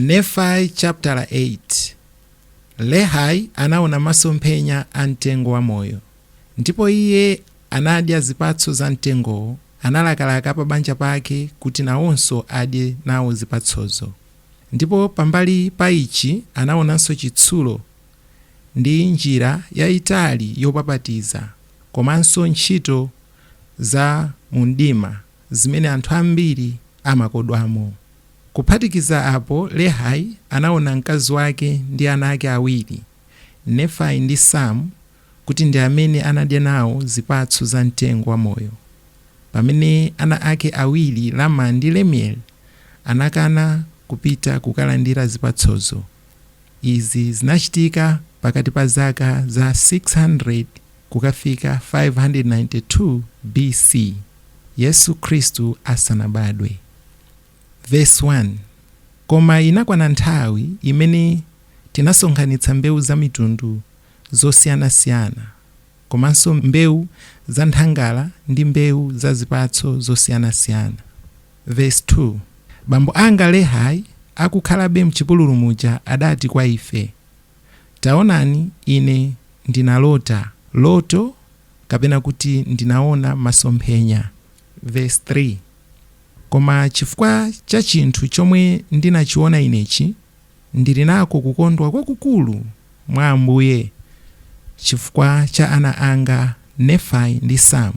Nefai chaputala 8, Lehai anaona masomphenya a mtengo wa moyo, ndipo iye anadya zipatso za mtengowo, analakalaka apabanja pake kuti nawonso adye nawo zipatsozo, ndipo pambali pa ichi anaonanso chitsulo ndi njira yaitali yopapatiza komanso ntchito za mumdima zimene anthu ambiri amakodwamo. Kuphatikiza apo, Lehai anaona mkazi wake ndi ana ake awiri, Nefai ndi Sam, kuti ndi amene anadya nawo zipatso za mtengo wa moyo, pamene ana ake awiri Laman ndi Lemuel anakana kupita kukalandira zipatsozo. Izi zinachitika pakati pa zaka za 600 kukafika 592 B.C. Yesu Khristu asanabadwe. Verse 1 Koma inakwana nthawi imene tinasonkhanitsa mbewu za mitundu yosiyanasiyana, komanso mbewu za nthangala ndi mbewu za zipatso zosiyanasiyana. Verse 2 Bambo anga Lehai akukhalabe m'chipululu muja adati kwa ife, Taonani, ine ndinalota loto, kapena kuti ndinaona masomphenya. Verse 3 Koma chifukwa cha chinthu chomwe ndinachiona inechi, ndiri nako kukondwa kwakukulu mwa Ambuye chifukwa cha ana anga Nefai ndi Sam,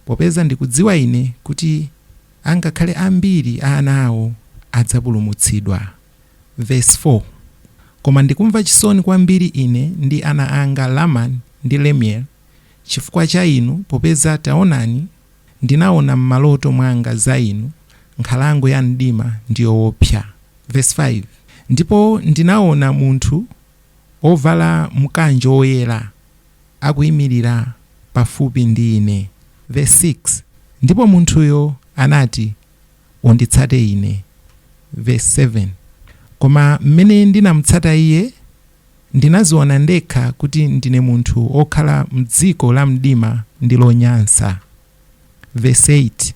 popeza ndikudziwa ine kuti angakhale ambiri a ana awo adzapulumutsidwa. Vesi 4, Koma ndikumva chisoni kwambiri ine ndi ana anga Laman ndi Lemuel chifukwa cha inu, popeza taonani, Ndinaona m'maloto mwanga za inu nkhalango ya mdima ndi yoopsa, vesi 5 ndipo ndinaona munthu wovala mkanjo woyera akuimirira pafupi ndi ine, vesi 6 ndipo munthuyo anati, Unditsate ine, vesi 7 koma m'mene ndinamutsata iye, Ndinadziona ndekha kuti ndine munthu wokhala m'dziko lamdima ndi lonyansa. Vesi 8,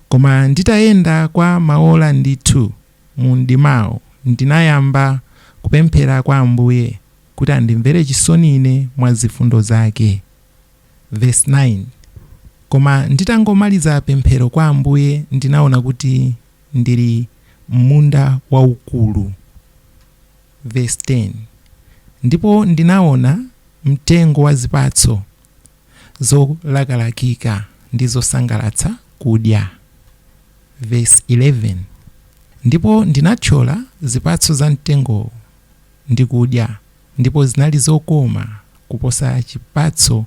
Koma nditayenda kwa maola ndithu mu mdimawo, ndinayamba kupemphera kwa Ambuye kuti andimvere chisoni ine mwa zifundo zake. Vesi 9, Koma nditangomaliza pemphero kwa Ambuye ndinaona kuti ndili m'munda waukulu. Vesi 10, Ndipo ndinawona mtengo wa zipatso zolakalakika ndi zosangalatsa kudya. Vesi 11, Ndipo ndinathyola zipatso za mtengowo ndi kudya, ndipo zinali zokoma kuposa chipatso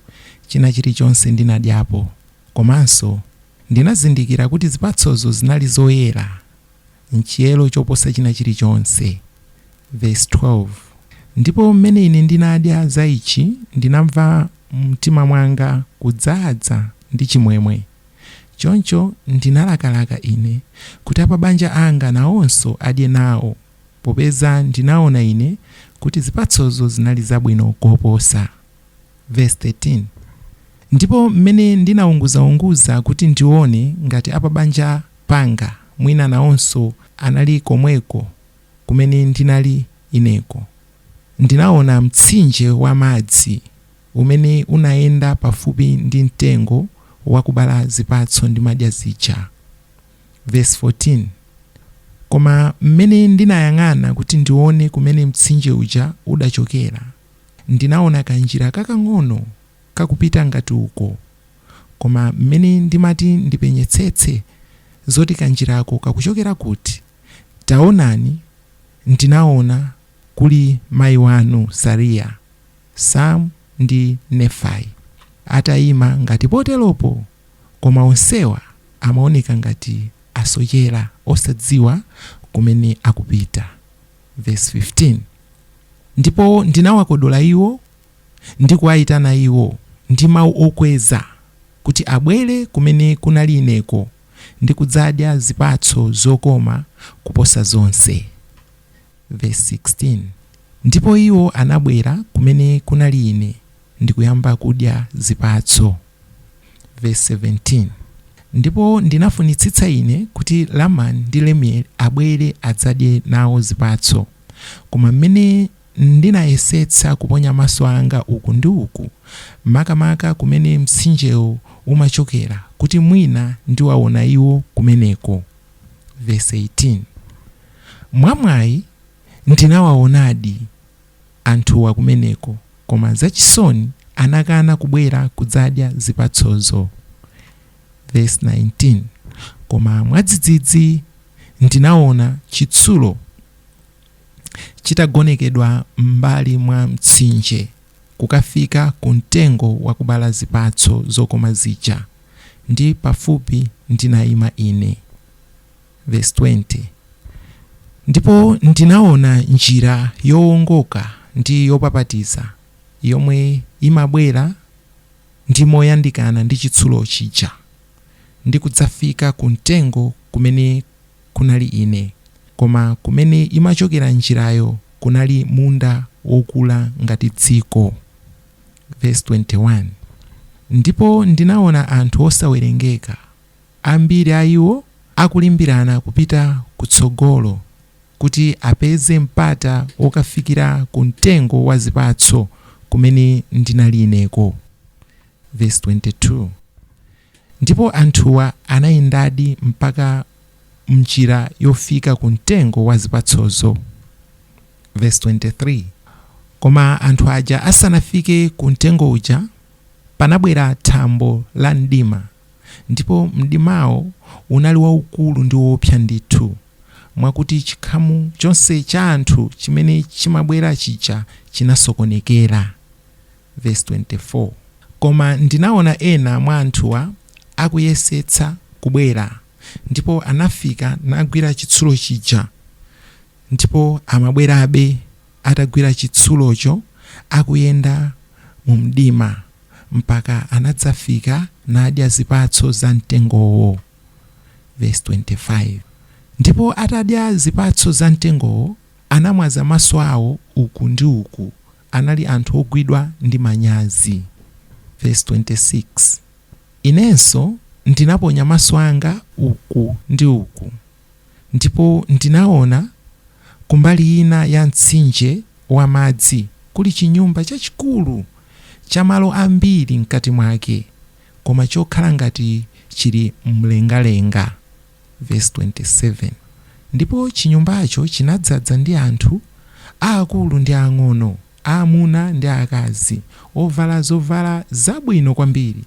china chilichonse ndinadyapo, komanso ndinazindikira kuti zipatsozo zinali zoyera. m'chiyero choposa china chilichonse. Vesi 12, Ndipo m'mene ine ndinadya za ichi, ndinamva mumtima mwanga kudzaza ndi chimwemwe, choncho ndinalakalaka ine kuti apabanja anga nawonso adye nawo, popeza ndinawona ine kuti zipatsozo zinali zabwino koposa. Vesi 13, Ndipo m'mene ndinaunguzaunguza kuti ndiwone ngati apabanja panga, mwina nawonso anali komweko kumene ndinali ineko. Ndinawona mtsinje wa madzi umene unayenda pafupi ndi mtengo wakubala zipatso ndimadya zija. Vesi 14, Koma mmene ndinayang'ana kuti ndiwone kumene mtsinje uja udachokera, ndinawona kanjira kakang'ono. kakupita ngati uko, koma m'mene ndimati ndipenyetsetse zoti kanjirako kakuchokera kuti, taonani, ndinaona kuli mayi wanu Sariya, Sam ndi Nefai atayima ngati poteropo, koma onsewa amaoneka ngati asochera osadziwa kumene akupita. Vesi 15, Ndipo ndinawakodola iwo ndi kuwaitana iwo ndi mawu okweza, kuti abwere kumene kunali ineko ndi kudzadya zipatso zokoma kuposa zonse. Vesi 16, Ndipo iwo anabwera kumene kunali ine ndi kuyamba kudya zipatso. Vesi 17, Ndipo ndinafunitsitsa ine kuti Lamani ndi Lemueli abwere adzadye nawo zipatso, koma m'mene Ndinayesetsa kuponya maso anga uku ndi uku, makamaka kumene mtsinjewo umachokera, kuti mwina ndiwawona iwo kumeneko. Vesi 18, Mwamwayi, ndinawawonadi anthuwa kumeneko, koma zachisoni anakana kubwera kudzadya zipatsozo. Vesi 19, Koma mwadzidzidzi ndinawona chitsulo chitagonekedwa m'mbali mwa mtsinje kukafika ku mtengo wakubala zipatso zokoma zija, ndi pafupi ndinayima ine. Verse 20 Ndipo ndinaona njira yowongoka ndi yopapatiza yomwe imabwera ndi moyandikana ndi chitsulo chija, ndi kudzafika ku mtengo kumene kunali ine, koma kumene imachokera njirayo kunali munda wokula ngati dziko. Vesi 21, Ndipo ndinawona anthu osawerengeka, ambiri a iwo akulimbirana kupita kutsogolo kuti apeze mpata wokafikira ku mtengo wa zipatso kumene ndinali ineko. Vesi 22. Ndipo anthuwa anayendadi mpaka m'njira yofika ku mtengo wa zipatsozo. Vesi 23, Koma anthu aja asanafike ku mtengo uja, panabwera thambo la mdima, ndipo mdimawo unali waukulu ndi woopsa ndithu, mwakuti chikhamu chonse cha anthu chimene chimabwera chija chinasokonekera. Vesi 24, Koma ndinaona ena mwa anthuwa akuyesetsa kubwera, ndipo anafika nagwira chitsulo chija, ndipo amabwerabe atagwira chitsulocho, akuyenda mu mdima, mpaka anadzafika nadya zipatso za mtengowo. Vesi 25, Ndipo atadya zipatso za mtengowo, anamwaza maso awo uku ndi uku, anali anthu ogwidwa ndi manyazi. Vesi 26, Inenso ndinaponya maso anga uku ndi uku, ndipo ndinaona kumbali ina ya mtsinje wa madzi kuli chinyumba chachikulu cha malo ambiri mkati mwake, koma chokhala ngati chili m'mlengalenga. Vesi 27, Ndipo chinyumbacho chinadzadza ndi anthu, aakulu ndi ang'ono, amuna ndi akazi, ovala zovala zabwino kwambiri,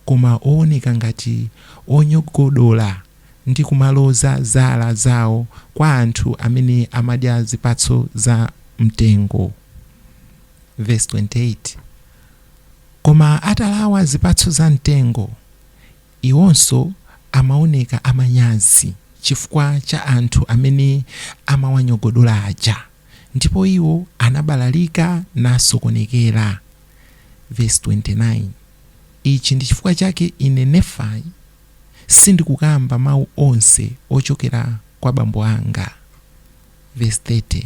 koma owoneka ngati onyogodola ndi kumaloza zala zawo kwa anthu amene amadya zipatso za mtengo. Vesi 28, Koma atalawa zipatso za mtengo, Iwonso amaoneka amanyazi chifukwa cha anthu amene amawanyogodola aja, ndipo iwo anabalalika nasokonekera. Vesi 29, Ichi ndi chifukwa chake ine, Nefai, sindikukamba mau onse ochokera kwa bambo anga. Vesi 30,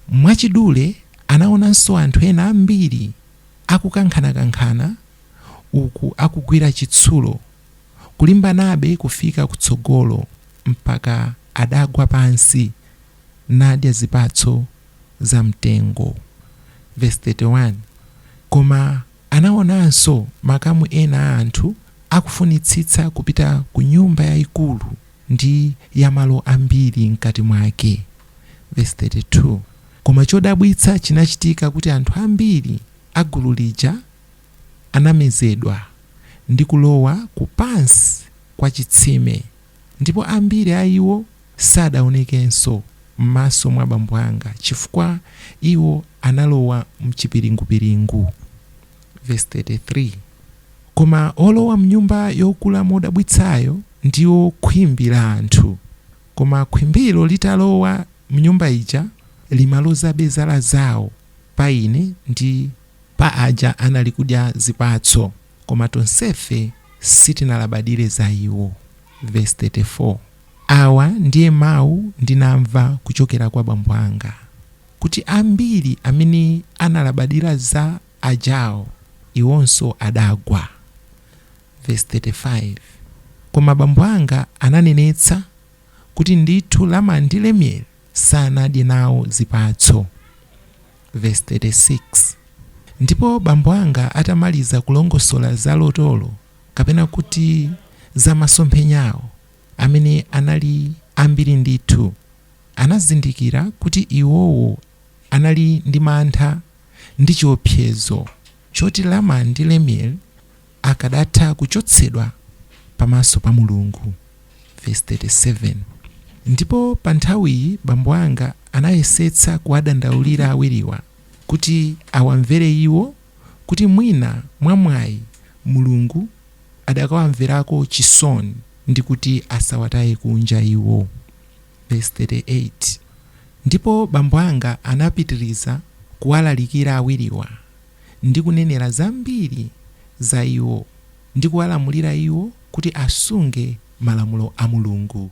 Mwachidule anaonanso anthu ena ambiri akukankhanakankhana uku akugwira chitsulo, kulimbanabe kufika kutsogolo mpaka adagwa pansi nadya zipatso za mtengo. Vesi 31, Koma anaonanso makamu ena a anthu akufunitsitsa kupita ku nyumba yaikulu ndi ya malo ambiri m'kati mwake. Vesi 32, Koma chodabwitsa chinachitika kuti anthu ambiri a gulu lija anamezedwa ndi kulowa ku pansi kwa chitsime, ndipo ambiri a iwo sadawonekenso m'maso mwa bambo anga, chifukwa iwo analowa m'chipiringupiringu. Vesi 33, Koma olowa m'nyumba yokula modabwitsayo ndiwo khwimbi la anthu, koma khwimbilo litalowa m'nyumba ija limalozabe zala zawo pa ine ndi. Pa aja anali kudya zipatso, koma tonsefe sitinalabadire za iwo. Vesi 34, Awa ndiye mau ndinamva kuchokera kwa bambo anga, kuti ambiri amene analabadira za ajawo, iwonso adagwa. Vesi 35, Koma bambo anga ananenetsa kuti ndithu Lama ndi Lemueli sanadye nawo zipatso. Vesi 36, Ndipo bambo anga atamaliza kulongosola za lotolo, kapena kuti za masomphenyawo, amene anali ambiri ndithu, anazindikira kuti iwowo anali ndi mantha ndi chiopsezo choti Lama ndi Lemueli akadatha kuchotsedwa pamaso pa Mulungu. Vesi 37, Ndipo pa nthawiyi bambo anga anayesetsa kuwadandaulira awiriwa kuti awamvere iwo kuti mwina mwamwayi Mulungu adakawamverako chisoni ndi kuti asawataye kunja iwo. Vesi 38, Ndipo bambo anga anapitiriza kuwalalikira awiriwa. ndi kunenera zambiri za iwo, ndi kuwalamulira iwo kuti asunge malamulo a Mulungu.